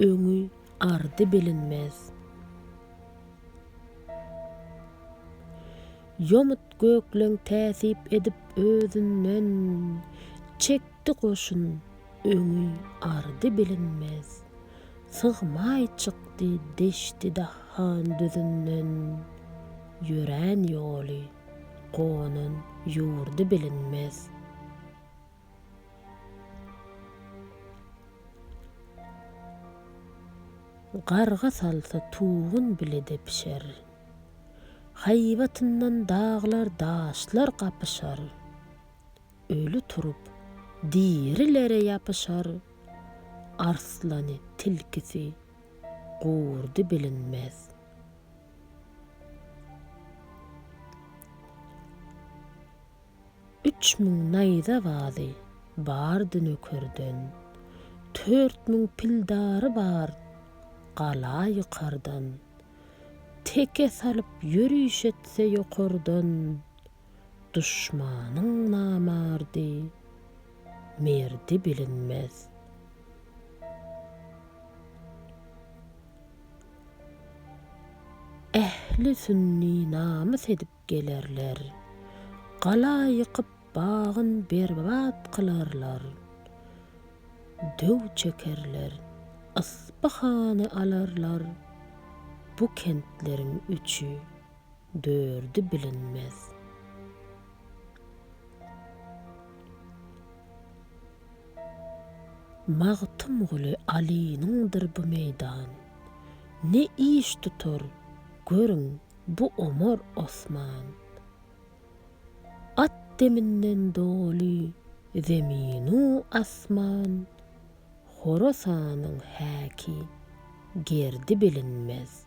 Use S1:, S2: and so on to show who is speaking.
S1: Öňi, ardy bilinmez. Ýomut gökleň täsip edip özünden, Çekdi goşun, öňi, ardy bilinmez. Sygmaý çykdy deşti dahan düzünden, Ýörän ýoly, gonan ýurdy bilinmez. Garga salsa tugun bile depişer. Haýbatyndan daglar daşlar gapyşar. Öli turup, dirilere ýapyşar. Arslany, tilkisi, gurdy bilinmez. Üç müň naýza bazy bardy nökerden, Tört müň pildary bar gala ýykardan. Teke salyp ýöriş etse ýokardan, Duşmanyň namardy, merdi bilinmez. Ähli sünni namys edip, gelerler. Gala ýykyp bagyn berbat kylarlar. Döw çekerler, Yspyhany alarlar. Bu kentleriň üçi, dördi bilinmez. Magtymguly Alynyňdyr bu meýdan. Ne iş tutar, görüň, Bu Omar Osman. At deminden doly zeminu asman, Horasanyň häki, gerdi bilinmez.